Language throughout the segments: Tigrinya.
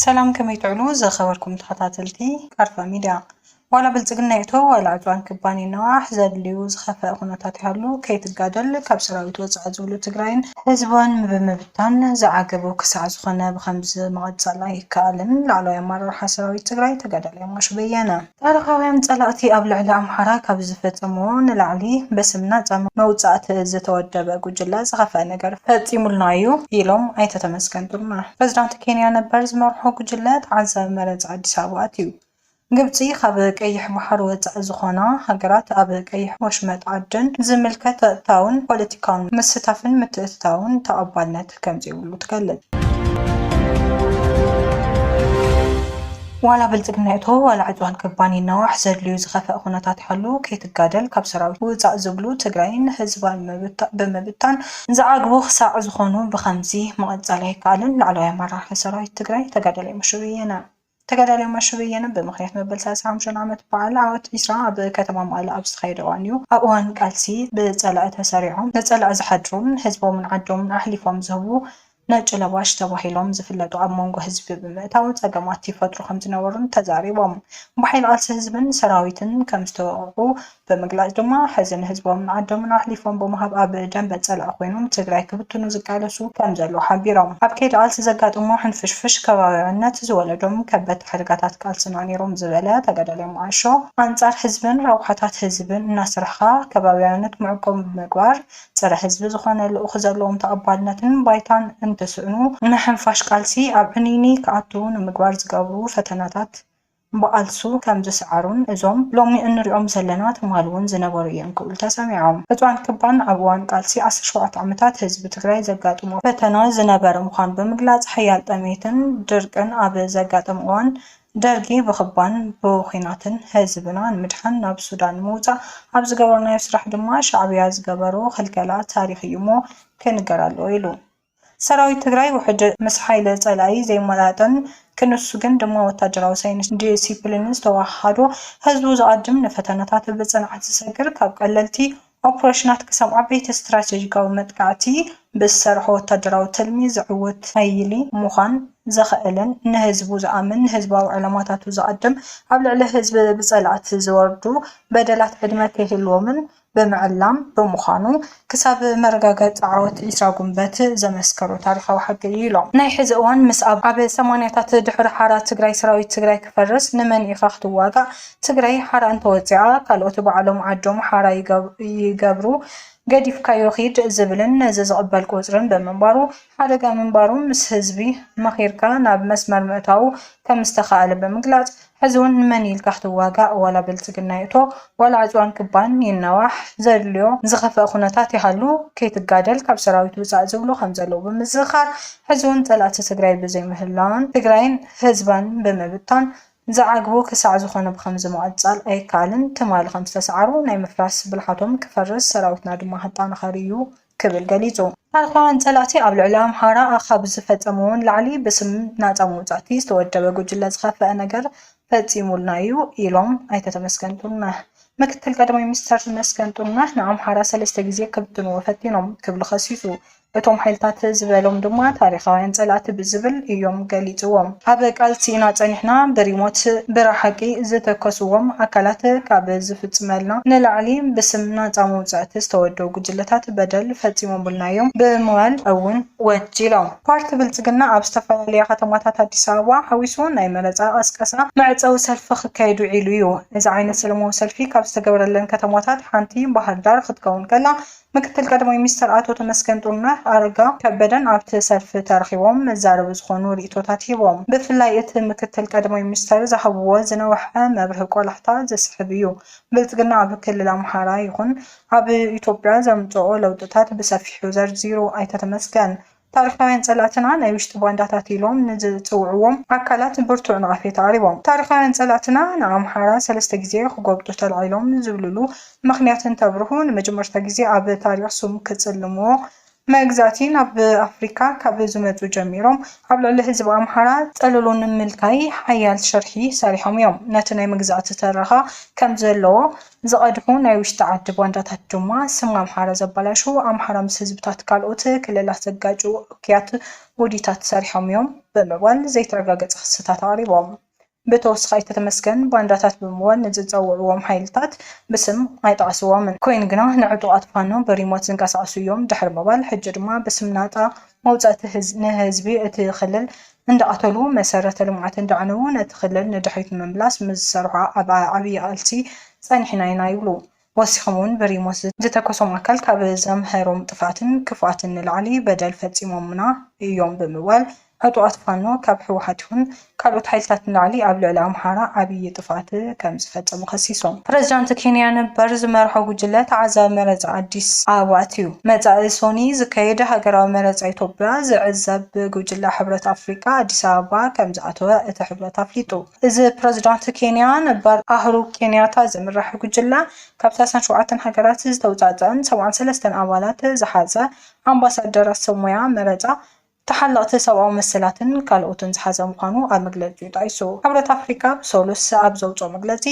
ሰላም ከመይ ትዕሉ ዘኸበርኩም ተኸታተልቲ ቃርፋ ሚድያ ዋላ ብልፅግና ይእቶ ዋላ ዕድዋን ክባን ይነዋሕ ዘድልዩ ዝኸፈአ ኩነታት ይሃሉ ከይትጋደል ካብ ሰራዊት ወፃኢ ዝብሉ ትግራይን ህዝባን ብምብታን ዝዓገቡ ክሳዕ ዝኾነ ብከምዚ ምቕፃል ኣይከኣልን ላዕለዋይ ኣመራርሓ ሰራዊት ትግራይ ተጋዳላይ ሞሽ በየነ ታሪኻውያን ጸላእቲ ኣብ ልዕሊ ኣምሓራ ካብ ዝፈጸምዎ ንላዕሊ በስም ናጻ መውጻእቲ ዝተወደበ ጉጅለ ዝኸፍኣ ነገር ፈጺሙልና'ዩ ኢሎም ኣይተ ተመስገን ጥሩነህ። ፕሬዝዳንት ኬንያ ነበር ዝመርሖ ጉጅለ ተዓዛቢ መረጻ ኣዲስ ኣበባ ኣትዩ። ግብጺ ካብ ቀይሕ ባሕሪ ወጻኢ ዝኾና ሃገራት ኣብ ቀይሕ ወሽመጥ ዓደን ዝምልከት ጸጥታውን ፖለቲካውን ምስታፍን ምትእትታውን ተቐባልነት ከምዘይብሉ ትገልጽ። ዋላ ብልፅግና ይእቶ ዋላ ዕፅዋን ክባን ይናዋሕ ዘድልዩ ዝኸፈእ ኩነታት ይሃሉ ከይትጋደል ካብ ሰራዊት ውፃእ ዝብሉ ትግራይን ህዝባን ብምብታን ዝዓግቡ ክሳዕ ዝኾኑ ብኸምዚ ምቕፃል ኣይከኣልን። ላዕለዋይ ኣመራርሓ ሰራዊት ትግራይ ተጋዳላይ ሙሽሩ የነ። ተጋዳላይ ማሾ በየነ ብምኽንያት መበል ሰላሳ ሓሙሻይ ዓመት በዓል ዓወት ዒስራ ኣብ ከተማ መቐለ ኣብ ዝተኻየደ እዋን'ዩ። ኣብ እዋን ቃልሲ ብጸላኢ ተሰሪዖም ንጸላኢ ዝሓድሩን ህዝቦምን ዓዶምን ኣሕሊፎም ዝህቡ ነጭ ለባሽ ተባሂሎም ዝፍለጡ ኣብ መንጎ ህዝቢ ብምእታው ጸገማት ይፈጥሩ ከምዝነበሩን ተዛሪቦም። ብሓይሊ ቃልሲ ህዝብን ሰራዊትን ከምዝተወቐዑ ብምግላፅ ድማ ሕዚ ንህዝቦምን ዓዶምን ኣሕሊፎም ብምሃብ ኣብ ደምበ ፀላኢ ኮይኖም ንትግራይ ክብትኑ ዝቃለሱ ከምዘለዉ ሓቢሮም። ኣብ ከይዲ ቃልሲ ዘጋጠሞ ሕንፍሽፍሽ ከባብያዊነት ዝወለዶም ከበድቲ ሓደጋታት ቃልስና ነይሮም ዝበለ ተጋዳላይ መዓሾ፣ ኣንፃር ህዝብን ረብሓታት ህዝብን እናሰራሕኻ ከባብያዊነት መዕቆቢ ብምግባር ፀረ ህዝቢ ዝኾነ ልኡኽ ዘለዎም ተቐባልነትን ባይታን እንትስእኑ ንሕንፋሽ ቃልሲ ኣብ ዕንይንይ ክኣቱ ንምግባር ዝገብሩ ፈተናታት ብቓልሱ ከም ዝሰዓሩን እዞም ሎሚ እንሪኦም ዘለና ትማል እውን ዝነበሩ እዮም ክብሉ ተሰሚዖም። ዕፅዋን ክባን ኣብ እዋን ቃልሲ ዓሰርተ ሸውዓተ ዓመታት ህዝቢ ትግራይ ዘጋጥሞ ፈተና ዝነበረ ምዃኑ ብምግላፅ ሓያል ጠምየትን ድርቅን ኣብ ዘጋጠመ እዋን ደርጊ ብክባን ብኹናትን ህዝብና ንምድሓን ናብ ሱዳን ንምውፃእ ኣብ ዝገበርናዮ ስራሕ ድማ ሻዕብያ ዝገበሮ ክልከላ ታሪኽ እዩ እሞ ክንገር ኣለዎ ኢሉ። ሰራዊት ትግራይ ውሕጅ ምስ ሓይሊ ፀላኢ ዘይመጣጠን ክንሱ ግን ድማ ወታደራዊ ሳይንስን ዲሲፕሊንን ዝተወሃሃዶ ህዝቡ ዝኣድም ንፈተነታት ብፅንዓት ዝሰግር ካብ ቀለልቲ ኦፕሬሽናት ክሳብ ዓበይቲ ስትራቴጂካዊ መጥቃዕቲ ብዝሰርሖ ወታደራዊ ትልሚ ዝዕወት ሓይሊ ምዃን ዝኽእልን ንህዝቡ ዝኣምን ንህዝባዊ ዕላማታቱ ዝኣድም ኣብ ልዕሊ ህዝቢ ብፀላእቲ ዝወርዱ በደላት ዕድመ ከይህልዎምን ብምዕላም ብምዃኑ ክሳብ መረጋገፂ ዓወት ዒስራ ጉንበት ዘመስከሩ ታሪኻዊ ሓቂ እዩ ኢሎም። ናይ ሕዚ እዋን ምስ ኣብ ኣብ ሰማንያታት ድሕሪ ሓራ ትግራይ ሰራዊት ትግራይ ክፈርስ ንመን ኢኻ ክትዋጋእ ትግራይ ሓራ እንተወፂኣ ካልኦት ባዕሎም ዓዶም ሓራ ይገብሩ ገዲፍካዮ ኺድ ዝብልን ነዚ ዝቕበል ቁፅርን ብምንባሩ ሓደጋ ምንባሩ ምስ ህዝቢ መኺርካ ናብ መስመር ምእታዉ ከምዝተኽኣለ ብምግላፅ ሕዚ ውን ንመን ኢልካ ክትዋጋእ ዋላ ብልፅግና ይእቶ ዋላ ዕፅዋን ክባን ይናዋሕ ዘድልዮ ዝኸፈኣ ኩነታት ይሃሉ ከይትጋደል ካብ ሰራዊት ውፃእ ዝብሉ ከምዘለዉ ብምዝኽኻር ሕዚ ውን ፀላእቲ ትግራይ ብዘይምህላውን ትግራይን ህዝባን ብምብታን ዝዓግቡ ክሳዕ ዝኾነ ብኸምዚ ምቕፃል ኣይከኣልን ትማሊ ከምዝተስዓሩ ናይ ምፍራስ ብልሓቶም ክፈርስ ሰራዊትና ድማ ክጠናኸር እዩ ክብል ገሊጹ። ታሪኻውያን ጸላእቲ ኣብ ልዕሊ ኣምሓራ ኣኻብ ዝፈጸምዎ ንላዕሊ ብስም ናጻ መውጻእቲ ዝተወደበ ጉጅለ ዝኸፈኣ ነገር ፈጺሙልና'ዩ ኢሎም ኣይተ ተመስገን ጥሩነህ። ምክትል ቀዳማይ ሚኒስተር ተመስገን ጥሩነህ ንኣምሓራ ሰለስተ ግዜ ክብትንዎ ፈቲኖም ክብሉ ከሲሱ። እቶም ሓይልታት ዝበሎም ድማ ታሪኻውያን ጸላእቲ ብዝብል እዮም ገሊጽዎም። ኣብ ቃልሲ ኢና ፀኒሕና ብሪሞት ብራ ሓቂ ዝተከስዎም ኣካላት ካብ ዝፍፅመልና ንላዕሊ ብስም ናፃ መውፃእቲ ዝተወደቡ ጉጅለታት በደል ፈፂሞሙልና እዮም ብምባል እውን ወንጂሎም። ፓርቲ ብልፅግና ኣብ ዝተፈላለያ ከተማታት ኣዲስ ኣበባ ሓዊሱ ናይ መረፃ ቀስቀሳ መዕፀዊ ሰልፊ ክካየድ ውዒሉ እዩ። እዚ ዓይነት ሰለማዊ ሰልፊ ካብ ዝተገበረለን ከተማታት ሓንቲ ባህርዳር ክትከውን ከላ ምክትል ቀዳማይ ሚኒስትር ኣቶ ተመስገን ጥሩነህ፣ ኣረጋ ከበደን ኣብቲ ሰልፊ ተረኺቦም መዛረቢ ዝኾኑ ሪኢቶታት ሂቦም። ብፍላይ እቲ ምክትል ቀዳማይ ሚኒስትር ዝሃብዎ ዝነውሐ መብርሂ ቆላሕታ ዝስሕብ እዩ። ብልፅግና ኣብ ክልል ኣምሓራ ይኹን ኣብ ኢትዮጵያ ዘምፅኦ ለውጥታት ብሰፊሑ ዘርዚሩ ኣይተ ተመስገን። ታሪኻውያን ፀላእትና ናይ ውሽጢ ባንዳታት ኢሎም ንዝፅውዕዎም ኣካላት ብርቱዕ ነቐፌታ ኣቕሪቦም። ታሪኻውያን ፀላእትና ንኣምሓራ ሰለስተ ግዜ ክጎብጡ ተላዒሎም ዝብልሉ ምኽንያት እንተብርሁ፣ ንመጀመርታ ግዜ ኣብ ታሪኽ ስሙ ክፅልምዎ መግዛእቲ ናብ ኣፍሪካ ካብ ዝመፁ ጀሚሮም ኣብ ልዕሊ ህዝቢ ኣምሓራ ፀለሎ ንምልካይ ሓያል ሽርሒ ሰሪሖም እዮም። ነቲ ናይ መግዛእቲ ትረኻ ከምዘለዎ ዝቐድሑ ናይ ውሽጢ ዓዲ ባንዳታት ድማ ስም ኣምሓራ ዘበላሽው፣ ኣምሓራ ምስ ህዝብታት ካልኦት ክልላት ዘጋጭው እኩያት ውዲታት ሰሪሖም እዮም ብምባል ዘይተረጋገፀ ክስታት ኣቕሪቦም። ብተወስኻ ኣይተ ተመስገን ባንዳታት ብምባል ንዝፀውዕዎም ሓይልታት ብስም ኣይጠቐስዎምን። ኮይኑ ግና ንዕጡቓት ፋኖ ብሪሞት ዝንቀሳቐሱ እዮም ድሕሪ ምባል ሕጂ ድማ ብስም ናፃ መውፃእቲ ንህዝቢ እቲ ክልል እንዳቐተሉ መሰረተ ልምዓት እንዳዕነዉ ነቲ ክልል ንድሕሪት ንምምላስ ምስ ዝሰርሑ ኣብ ዓብዪ ቓልሲ ፀኒሕና ኢና ይብሉ። ወሲኾም እውን ብሪሞት ዝተኮሶም ኣካል ካብ ዘምሀሮም ጥፍኣትን ክፍኣትን ንላዕሊ በደል ፈፂሞሙና ኢዮም ብምባል ዕጡቓት ፋኖ ካብ ህወሓት ይኹን ካልኦት ሓይልታት ንላዕሊ ኣብ ልዕሊ ኣምሓራ ዓብዪ ጥፍኣት ከምዝፈፀሙ ከሲሶም። ፕረዚዳንት ኬንያ ነበር ዝመርሖ ጉጅለ ተዓዛቢ መረፃ ኣዲስ ኣበባ ኣትዩ። መፃኢ ሶኑይ ዝካየድ ሃገራዊ መረፃ ኢትዮጵያ ዝዕዘብ ጉጅለ ሕብረት ኣፍሪካ ኣዲስ ኣበባ ከምዝኣተወ እቲ ሕብረት ኣፍሊጡ። እዚ ብፕረዚዳንት ኬንያ ነበር ኣህሩ ኬንያታ ዝምራሕ ጉጅለ ካብ ሰላሳን ሸውዓተን ሃገራት ዝተውፃእፀኣን ሰብዓን ሰለስተን ኣባላት ዝሓዘ ኣምባሳደራት ሰብ ሞያ መረፃ ተሓለቕቲ ሰብኣዊ መሰላትን ካልኦትን ዝሓዘ ምዃኑ ኣብ መግለጺኡ ጠቒሱ። ሕብረት ኣፍሪቃ ብሰሉስ ኣብ ዘውጽኦ መግለጺ፣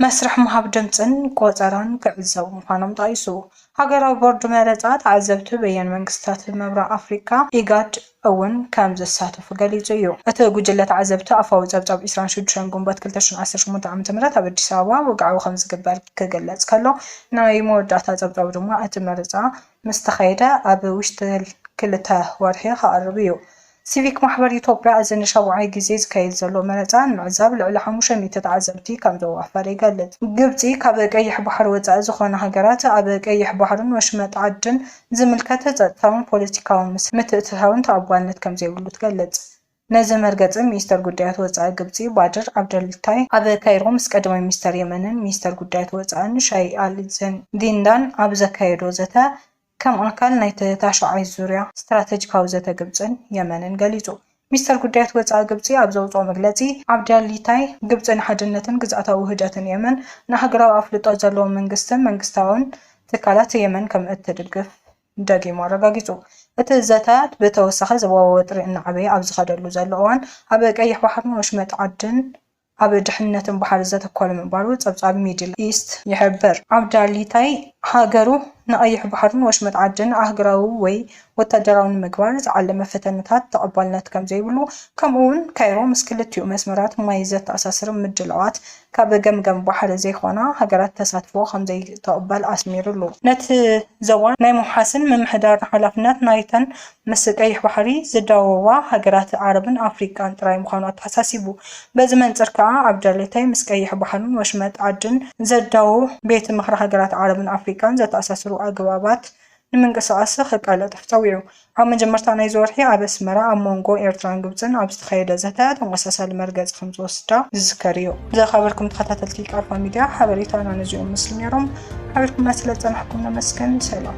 መስርሕ ምሃብ ድምጽን ቆጸራን ክዕዘቡ ምዃኖም ጠቒሱ። ሃገራዊ ቦርድ መረጻ ተዓዘብቲ በየነ መንግስታት ምብራቕ ኣፍሪቃ፣ ኢጋድ፣ እውን ከም ዝሳተፉ ገሊጹ እዩ። እቲ ጉጅለ ተዓዘብቲ ኣፋዊ ጸብጻብ ዕስራን ሽዱሽተን ግንቦት ክልተ ሽሕን ዓሰርተ ሸሞንተ ዓመተ ምህረት ኣብ ኣዲስ ኣበባ ወግዓዊ ከም ዝግበር ክግለጽ ከሎ፣ ናይ መወዳእታ ጸብጻቡ ድማ እቲ መረጻ ምስ ተኸየደ ኣብ ውሽጢ ክልተ ወርሒ ክቐርብ እዩ። ሲቪክ ማሕበር ኢትዮጵያ እዚ ንሻብዓይ ግዜ ዝካየድ ዘሎ መረፃ ንምዕዛብ ልዕሊ ሓሙሽተ ሚእቲ ተዓዘብቲ ከምዘዋፈረ ይገልፅ። ግብፂ ካብ ቀይሕ ባሕሪ ወፃኢ ዝኾና ሃገራት ኣብ ቀይሕ ባሕርን ወሽመጥ ዓድን ዝምልከት ፀጥታውን ፖለቲካውን ምትእትታውን ተቐባልነት ከምዘይብሉ ትገልፅ። ነዚ መርገጺ ሚኒስተር ጉዳያት ወጻኢ ግብጺ ባድር ዓብደልታይ ኣብ ካይሮ ምስ ቀዳማይ ሚኒስተር የመንን ሚኒስተር ጉዳያት ወጻእን ሻይህ ኣሊ ዚንዳን ኣብ ዘካየዶ ዘተ ከም ኣካል ናይቲ ታሽዓይ ዙርያ ስትራተጂካዊ ዘተ ግብጽን የመንን ገሊጹ። ሚኒስተር ጉዳያት ወጻኢ ግብጺ ኣብ ዘውጽኦ መግለጺ፣ ዓብደልታይ ግብጺ ንሓድነትን ግዝኣታዊ ውህደትን የመን፣ ንኣህጉራዊ ኣፍልጦ ዘለዎ መንግስትን መንግስታውን ትካላት የመን ከም እትድግፍ፣ ደጊሙ ኣረጋጊጹ። እቲ ዘተ ብተወሳኺ ዞባዊ ወጥሪ እናዓበየ ኣብ ዝኸደሉ ዘሎ እዋን፣ ኣብ ቀይሕ ባሕርን ወሽመጥ ዓድን ኣብ ድሕንነትን ባሕሪ ዘተኮረ ምንባሩ ጸብጻብ ሚድል ኢስት ይሕብር። ኣብ ዳሊታይ ሃገሩ ንቀይሕ ባሕርን ወሽመጥ ዓድን ኣህጉራዊ ወይ ወታደራዊ ንምግባር ዝዓለመ ፈተነታት ተቐባልነት ከምዘይብሉ፣ ከምኡ'ውን ካይሮ ምስ ክልቲኡ መስመራት ማይ ዘተኣሳስር ምድላዋት ካብ ገምጋም ባሕሪ ዘይኮና ሃገራት ተሳትፎ ከምዘይትቕበል ኣስሚሩሉ። ነቲ ዞባ ናይ ምውሓስን ምምሕዳርን ሓላፍነት ናይተን ምስ ቀይሕ ባሕሪ ዝዳወባ ሃገራት ዓረብን ኣፍሪቃን ጥራይ ምዃኑ ኣተሓሳሲቡ። በዚ መንጽር ከኣ ኣብጃሌታይ ምስ ቀይሕ ባሕርን ወሽመጥ ዓድን ዘዳውብ ቤት ምኽሪ ሃገራት ዓረብን ኣፍሪቃን ዘተኣሳስሩ ኣገባባት ንምንቅስቓስ'ሲ ከቃላጥፍ ጸዊዑ። ኣብ መጀመርታ ናይዚ ወርሒ ኣብ ኣስመራ ኣብ ሞንጎ ኤርትራን ግብጽን ኣብ ዝተኻየደ ዘተ ተመሳሳሊ መርገጺ ከምዝወስዳ ዝዝከር እዩ። ዘኻበርኩም ተኸታተልቲ ቃልፋ ሚድያ ሓበሬታና ነዚኦም መስሉ ነይሮም። ሓቢርኩምና ስለዝጸናሕኩም ነመስግን። ሰላም።